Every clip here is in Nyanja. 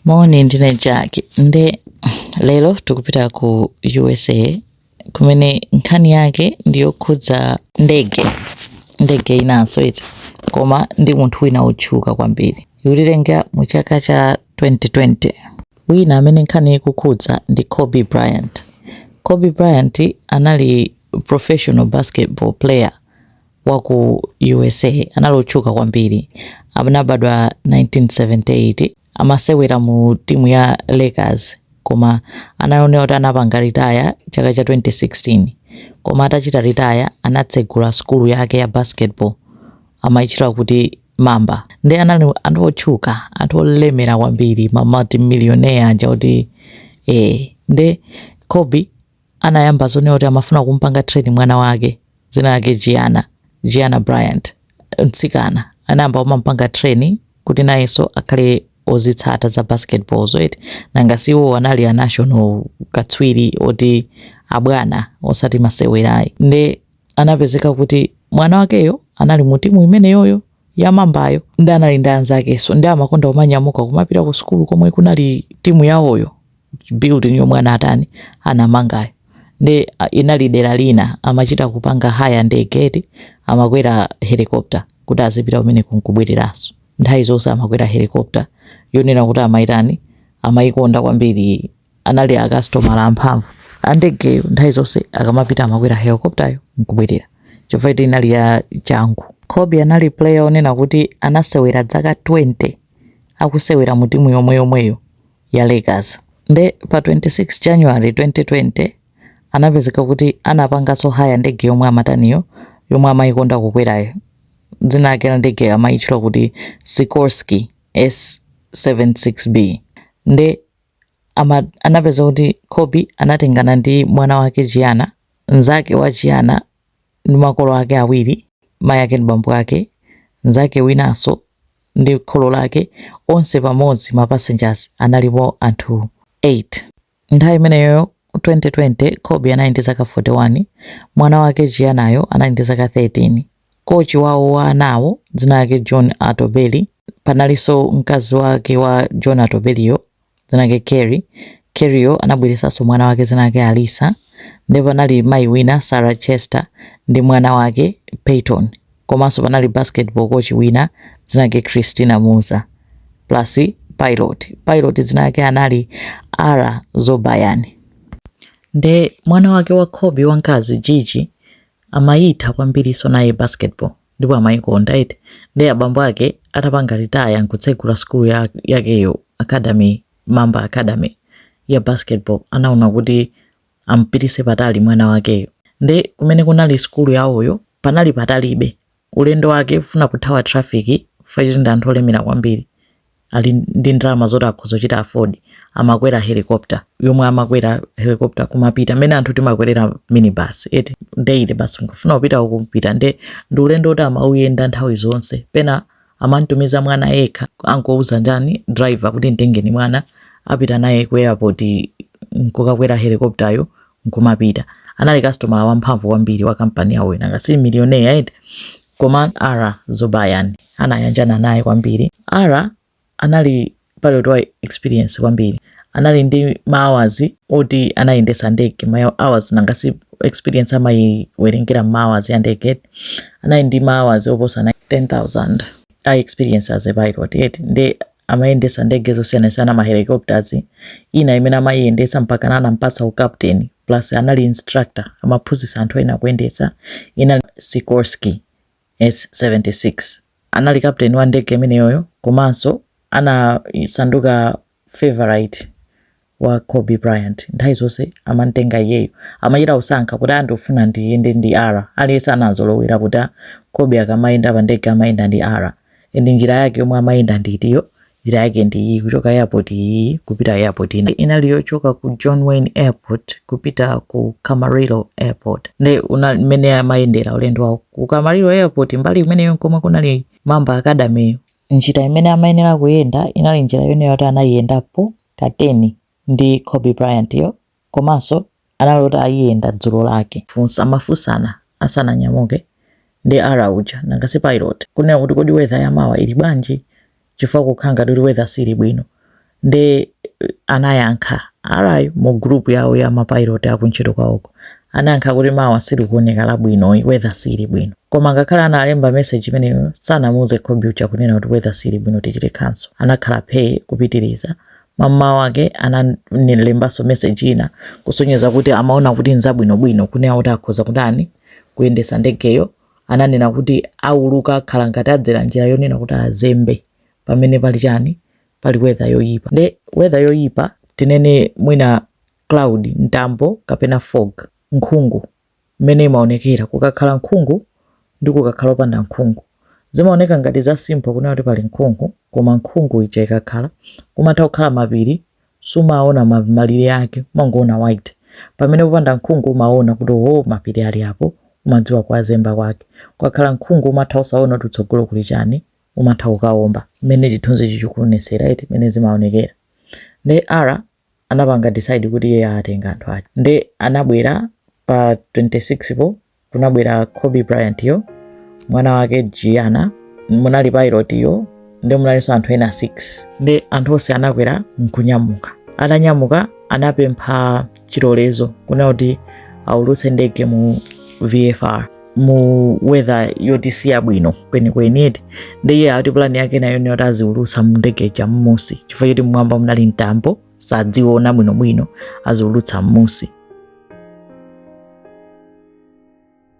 moni ndine jack nde lero tikupita ku usa kumene nkhani yake ndiyokhudza ndege ndege inanso eti koma ndi munthu wina wotchuka kwambiri ikutitengera mu chaka cha 2020 wina amene nkhani ikukhudza ndi kobe bryant kobe bryant anali professional basketball player wa ku U.S.A. anali otchuka kwambiri. Anabadwa 1978, amasewera mu timu ya Lakers koma anaona kuti anapanga ritaya chaka cha 2016. Koma atachita ritaya anatsegula sukulu yake ya basketball amaitchula kuti Mamba. Ndi anali anthu otchuka, anthu olemera kwambiri, ma multimillionaire aja kuti eh, nde Kobe anayamba zonena kuti amafuna kumupanga train mwana wake dzina lake Gianna, Gianna Bryant, mtsikana anayamba kumamupanga train kuti nayenso akhale ozitsata za basketball zo eti nanga si iwo anali a national katswiri oti abwana osati masewerayi nde anapezeka kuti mwana wakeyo anali mu timu imeneyoyo yamambayo ndi anali ndi anzakenso ndi amakonda kumanyamuka kumapita ku sukulu komwe kunali timu yawoyo building yomwe anatani anamangayo ndi ah, inali dera lina amachita kupanga haya ndege eti amakwera helicopter kuti azipita kumeneko nkubwereranso nthawi zonse amakwera helicopter yonena kuti amayitani amayikonda kwambiri anali akasitomala amphamvu andegeyo nthawi zonse akamapita amakwera helicopteryo nkubwerera chifukwa eti inali ya changu kobe anali player onena kuti anasewera dzaka 20 akusewera mu timu yomweyomweyo ya Lakers. Nde pa 26 January 2020 anapezeka kuti anapanganso haya ndege yomwe amataniyo yomwe amayikonda kukwerayo dzina lake la ndege amayitchula kuti Sikorsky S76B nde ama, anapezeka kuti Kobe anatengana ndi mwana wake Gianna nzake wa Gianna ndi makolo ake awiri mayi ake ndi bambo ake nzake winanso ndi kholo lake, onse pamodzi ma passengers analipo anthu 8. Nthawi imeneyoyo 2020 Kobe anali ndi zaka 41, mwana wake Giannayo anali ndi zaka 13. Kochi wawo wa anawo dzina lake John Altobelli, panalinso mkazi wake wa John Altobelliyo dzina lake Keri. Keriyo anabweretsanso mwana wake dzina lake Alyssa. Ndipo panali mayi wina Sarah Chester ndi mwana wake Payton. Komanso panali basketball coach wina dzina lake Christina Mauser plus pilot. Pilot dzina lake anali Ara Zobayan. Nde mwana wake wa Kobe wamkazi Gigi amayitha kwambirinso naye basketball. ndipo amayikonda eti nde abambo ake atapanga ritaya nkutsegula sukulu yakeyo academy mamba academy ya basketball anaona kuti ampitise patali mwana wakeyo nde kumene kunali sukulu yawoyo panali patalibe ulendo wake kufuna kuthawa traffic fact ndi anthu olemera kwambiri ali ndi ndalama zoti akhoza kuchita afford amakwera helicopter yomwe amakwera helicopter kumapita mmene anthu timakwerera minibus eti daily basi akafuna kupita uku kupita nde ndi ulendo woti amauyenda nthawi zonse pena amantumiza mwana yekha akumuuza ndani driver kuti mtengeni mwana apita naye ku airport nkukakwera helicopter yo nkumapita anali kasitomala wamphamvu kwambiri wa kampani yawoyo nanga si milioneya eti koma Ara Zobayan anayanjana naye kwambiri Ara anali pilot wa experience kwambiri anali ndi maawazi oti anayendetsa ndege ma hours nanga si experience amayiwerengera mmaawazi ya ndege eti anali ndi maawazi oposa 10000 a experience as a pilot eti nde amayendetsa ndege zosiyanasiyana ma helicopters ina imene amayiyendetsa mpaka anampatsa ukapteni plus anali instructor amaphunzitsa anthu ena kuyendetsa inali Sikorsky S76 anali kapteni wa ndege imeneyoyo komanso anasanduka favorite wa Kobe Bryant nthawi zonse amantenga iyeyo amachita kusankha kuti ndifuna ndiyende ndi Ara aliyense anazolowera kuti Kobe akamayenda pa ndege amayenda ndi Ara and njira yake yomwe amayenda ndi itiyo njira yake ndi iyi kuchoka airport iyi kupita airport ina inali yochoka ku John Wayne Airport kupita ku Camarillo Airport nde mmene amayendera ulendo wawo ku Camarillo Airport mbali imeneyo nkomwe kunali Mamba Academy yo Njira imene amayenera kuyenda inali njira yonena yoti anayiyendapo ka teni ndi Kobe Bryant yo komanso anali oti ayiyenda dzulo lake. Amafunsana asananyamuke ndi Ara uja nanga si pilot kunena kuti kodi weather ya mawa ili bwanji chifukwa kukhala ngati kuti weather sili bwino nde anayankha Ara yo mu group yawo ya mapilot akuntchito kwawoko anayankha kuti mawa silikuoneka labwino weather sili bwino koma ngakhale analemba message imeneyo sanamuuze Kobe uja kunena kuti weather sili bwino tichite cancel anakhala phee kupitiriza mamawa wake analembanso message ina kusonyeza kuti amaona kuti nzabwinobwino kunena kuti akhoza kutani kuyendetsa ndegeyo ananena kuti auluka akhala ngati adzera njira yonena kuti azembe pamene pali chani pali weather yoyipa nde weather yoyipa tinene mwina cloud mtambo kapena fog nkhungu mmene imaonekera kukakhala nkhungu ndi kukakhala opanda nkhungu zimaoneka ngati za simple kunena kuti pali nkhungu koma nkhungu ija ikakhala kumatha kukhala mapiri sumaona ma- malire ake umangoona white pamene popanda nkhungu umaona kuti o mapiri ali apo umadziwa kuwazemba kwake kukakhala nkhungu umatha osaona kuti kutsogolo kuli chani umatha kukawomba mmene chithunzichi chikuonetsera eti mmene zimaonekera nde ara anapanga decide kuti iye atenga anthu ake nde anabwera pa 26 po kunabwera kobe bryant yo mwana wake gianna munali pilot yo nde munalinso anthu ena 6 nde anthu onse anakwera nkunyamuka atanyamuka anapempha chilolezo kunena kuti aulutse ndege mu vfr mu weather yoti si yabwino kwenikweni eti ndiye ati pulani yake nayo niyoti aziulutsa ndege ija mmusi chifukwa choti mmwamba munali mtambo sadziona bwinobwino aziulutsa mmusi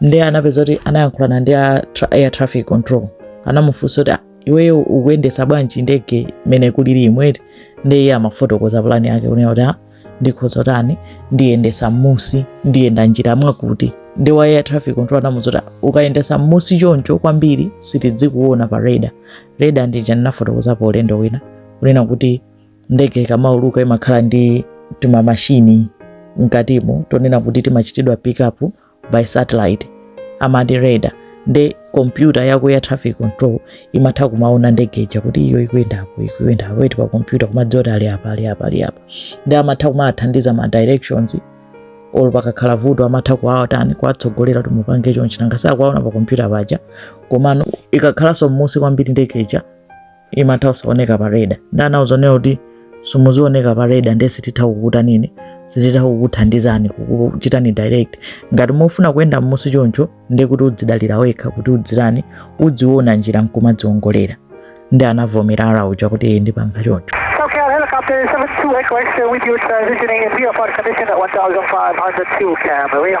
ndiye anapeza kuti anayankhulana ndi a tra- air traffic control anamufunsa kuti iweyo ukuyendesa bwanji ndege mmene kulilimu eti nde iye amafotokoza pulani yake kunena kuti ndikhoza kutani ndiyendesa mmusi ndiyenda njira mwakuti ndi wa air traffic control anamuuza kuti ukayendesa mmusi choncho kwambiri sitidzikuona pa radar radar ndija ndinafotokozapo ulendo wina kunena kuti ndege ikamauluka imakhala ndi timamashini mkatimo tonena kuti timachitidwa pick up by satellite amati radar nde kompyuta yako ya traffic control imatha kumaona ndege ija kuti iyo ikuyenda apo ikuyenda apo eti pa kompyuta kumadziwa kuti ali apa ali apa ali apa ndi amatha kumathandiza ma directions olo pakakhala vuto amatha kuwatani kuwatsogolera kuti mupange chonchi nanga sakuwaona pa kompyuta paja komano ikakhalanso mmusi kwambiri ndege ija imatha kusaoneka pa radar nde anawauza kunena kuti simuzioneka pa radar ndiye sititha kukutanini sititha kukuthandizani kukuchitani direct ngati mufuna kuyenda mmusi choncho ndiye kuti udzidalira wekha kuti udzitani udziona njira nkumadziongolera ndi anavomera ara uja kuti iye ndipanga choncho Helicopter 72 Echo X-ray with you transitioning in VFR condition at 1500 to Camarillo.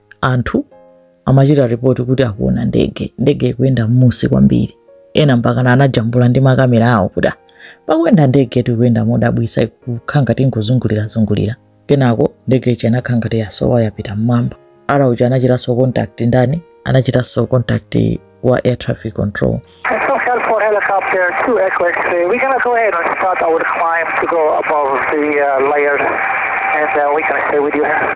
anthu amachita ripoti kuti akuona ndege ndege ikuyenda m'musi kwambiri ena mpakana anajambula ndi makamera awo kuti pakuyenda ndege yoti ikuyenda modabwisa ikukhala ngati ingozungulirazungulira kenako ndege ija inakhala ngati yasowa yapita mmwamba ara uja anachitanso contact ndani anachitanso contact wa air traffic control SoCal for helicopter 2 Echo X-ray. We're gonna go ahead and start our climb to go above the uh, layers, and uh, we're gonna stay with you here.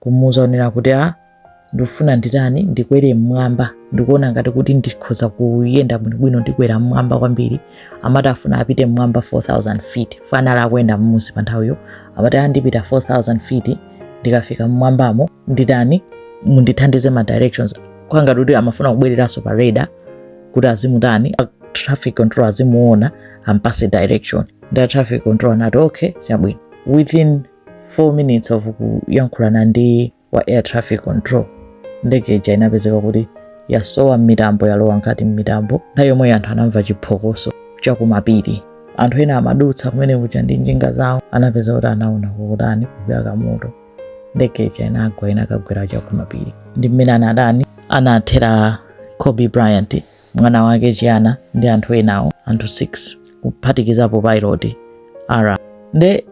kumuuza onena kuti a ah, ndikufuna nditani ndikwere mmwamba ndizioona ngati kuti ndikhoza kuyenda bwinobwino ndikwera mmwamba kwambiri amati afuna apite mmwamba 4000 feet chifukwa anali akuyenda mmusi pa nthawiyo amati andipita ah, 4000 feet ndikafika mmwambamo nditani mundithandize ma directions kungati kuti amafuna kubwereranso pa radar kuti azimutani traffic control azimuona ampase direction nde traffic control anati okay chabwino within 4 minutes of kuyankhulana ndi wa air traffic control ndege ija inapezeka kuti yasowa m'mitambo yalowa mkati m'mitambo nthawi yomweyo anthu anamva chiphokoso chakumapiri anthu ena amadutsa kumene kuja ndi njinga zawo anapeza kuti anaona kukutani kukuyaka moto ndege ija inagwa inakagwera chakumapiri ndi mmene anatani anathera kobe bryant mwana wake Gianna ndi anthu enawo anthu 6 kuphatikizapo pailoti ara nde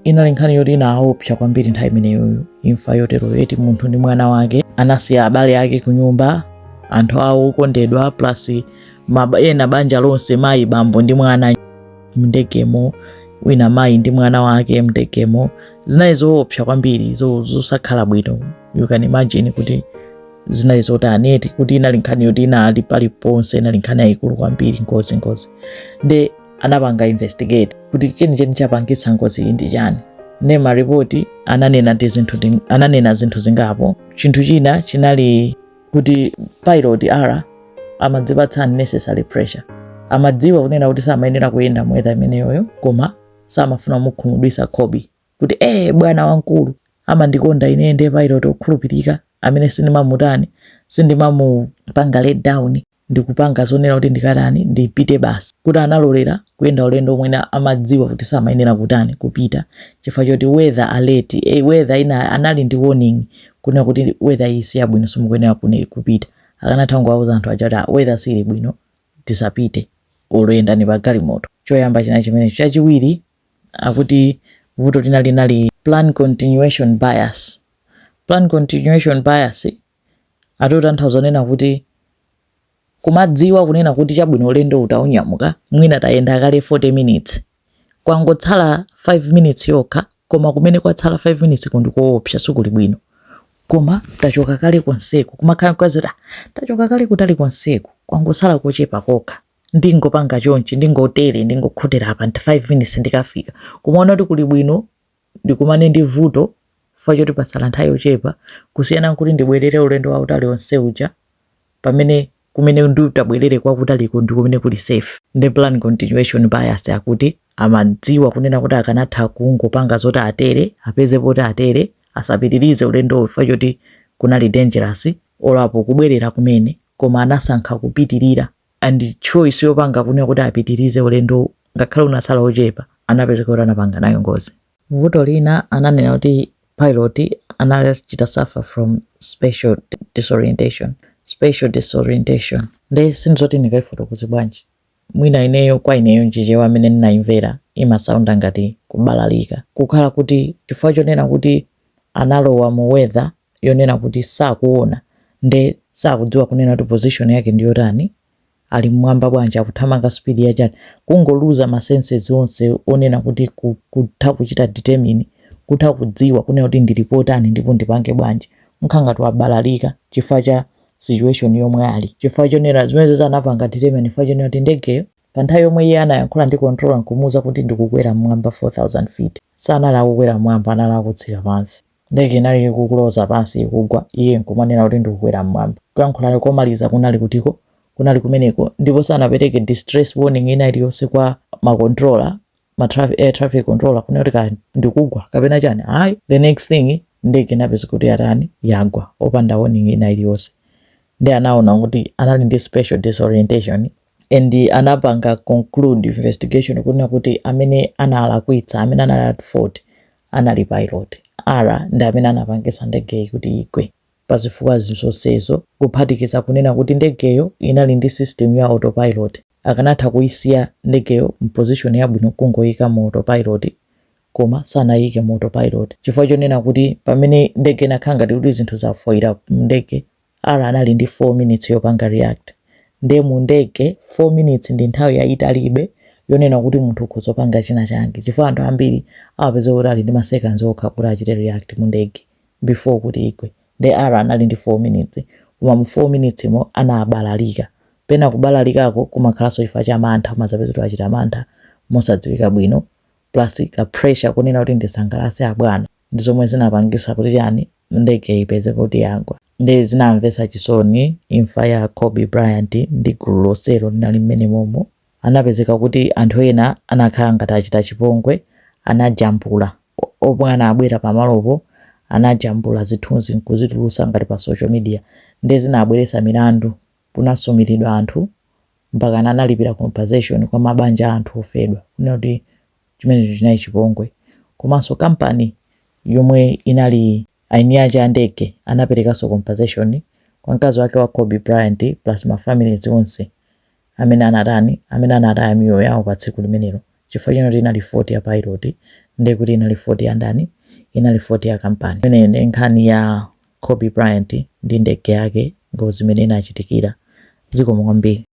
inali nkhani yoti inaopsa kwambiri nthawi imeneyoyo imfa yotero eti munthu ndi mwana wake anasiya abale ake kunyumba anthu awo okondedwa plus ena banja lonse mayi bambo ndi mwana mndegemo wina mayi ndi mwana wake mndegemo zinali zoopsa kwambiri zosakhala bwino you can imagine kuti zinali zotani eti kuti inali nkhani yoti inali paliponse inali nkhani yayikulu kwambiri ngozi ngozi nde anapanga investigate kuti chenicheni chapangitsa ngozi iyi ndi chani ne maripoti ananena ndi zinthu ndi- ananena zinthu zingapo chinthu china chinali kuti pilot ara amadzipatsa unnecessary pressure amadziwa kunena kuti samayenera kuyenda mu weather imeneyoyo koma samafuna kumukhumudwitsa kobe kuti ee bwana wamkulu amandikonda ine ndiye pilot okhulupirika amene sindimamutani sindimamupanga let down ndikupanga zonena kuti ndikatani ndipite basi kuti analolera kuyenda ulendo omwe amadziwa kuti samayenera kutani kupita chifukwa choti weather alert e, weather ina anali ndi warning kunena kuti weather iyi si yabwino simukuyenera kupita akanatha kungowauza anthu aja kuti ah, weather sili bwino tisapite yendani pa galimoto choyamba china chimenecho chachiwiri akuti vuto lina linali plan continuation bias. Plan continuation bias ati atanthauza zonena kuti kumadziwa kunena kuti chabwino ulendo utaunyamuka mwina tayenda kale 40 minutes kwangotsala 5 minutes yokha koma kumene kwatsala 5 minutes ko ndi koopsa sukuli bwino koma tachoka kale konseku kumakhala kwazi kuti ah, tachoka kale kutali konseku kwangotsala kochepa kokha ndingopanga chonchi ndingotere ndingokhotera apa nti 5 minutes ndikafika kumaona kuti kuli bwino ndikumane ndi vuto chifukwa choti pasala nthawi yochepa kusiyana nkuti ndibwerere ulendo wa utali onse uja pamene kumene nditabwerere kwakutaliko ndi kumene kuli safe ndi plan continuation bias akuti amadziwa kunena kuti akanatha kungopanga zoti atere apeze poti atere asapitirize ulendo chifukwa choti kunali dangerous olapo kubwerera kumene koma anasankha kupitirira and choice yopanga kunena kuti apitirize ulendowu ngakhale unatsala ochepa anapezeka kuti anapanga nayo ngozi vuto lina ananena kuti pilot anachita suffer from spatial disorientation spatial disorientation nde sindidziwa kuti ndikaifotokoze bwanji mwina ineyo kwa ineyo m'Chichewa amene ndinaimvera imasaunda ngati kubalalika kukhala kuti chifukwa chonena kuti analowa mu weather yonena kuti sakuona nde sakudziwa kunena kuti position yake ndi yotani ali mmwamba bwanji akuthamanga speed ya chani kungoluza ma senses onse onena kuti ku- kutha kuchita determine kutha kudziwa kunena kuti ndili potani ndipo ndipange bwanji kukhala ngati wabalalika chifukwa cha situation yomwe ali chifukwa chonena zimene zoti anapanga determine chifukwa chonena kuti ndegeyo pa nthawi yomwe iye anayankhula ndi controller nkumuuza kuti ndikukwera mmwamba 4000 feet sanali akukwera mmwamba anali akutsika pansi Ndege inali ikuloza pansi, ikugwa, iye nkumanena kuti ndikukwera mmwamba. Kuyankhula komaliza kunali kutiko, kunali kumeneko, ndipo sanapereke distress warning ina iliyonse kwa ma controller, ma traffic, air traffic controller, kunena kuti kaya ndikugwa kapena chani, ayi. The next thing, ndege inapezeka kuti yatani, yagwa, opanda warning ina iliyonse. Nde anaona kuti anali ndi spatial disorientation. and anapanga conclude investigation kunena kuti amene analakwitsa amene anali at fault anali pilot Ara ndi amene anapangitsa ndegeyi kuti igwe pa zifukwa zonsezo kuphatikiza kunena kuti ndegeyo inali ndi system ya autopilot akanatha kuisiya ndegeyo mposition yabwino kungoyika mu autopilot koma sanayike mu autopilot chifukwa chonena kuti pamene ndege inakhala ngati kuti zinthu zafoira mndege Ara anali ndi 4 minutes yopanga react nde mu ndege 4 minutes ndi nthawi yayitalibe yonena kuti munthu ukhoza kupanga china chake chifukwa anthu ambiri amapeza kuti ali ndi ma seconds okha kuti achite react mu ndege before kuti igwe nde Ara anali ndi 4 minutes koma mu 4 minutes mo anabalalika pena kubalalikako kumakhalanso chifukwa cha mantha umadzapeza kuti wachita mantha mosadziwika bwino plus ka pressure konena kuti ndisangalase abwana ndi zomwe zinapangisa kuti chani ndege ipeze kuti yagwa nde zinamvesa chisoni imfa ya Kobe Bryant ndi gulu lonselo linali mmene momo anapezeka kuti anthu ena anakhala ngati achita chipongwe anajambula omwe anabwera pamalopo anajambula zithunzi nkuzitulusa ngati pa social media nde zinabweresa milandu kunasumiridwa anthu mpakana analipira compensation kwa mabanja a anthu ofedwa kunena kuti chimenecho chinali chipongwe komanso kampani yomwe inali eni ake a ndege anaperekanso compensation kwa mkazi wake wa Kobe Bryant plus ma families onse amene anatani amene anataya miyoyo yawo pa tsiku limenelo chifukwa choti inali fault ya pilot ndiye kuti inali fault ya ndani inali fault ya kampani imene ndi nkhani ya Kobe Bryant ndi ndege yake ngozi imene inachitikira. Zikomo kwambiri.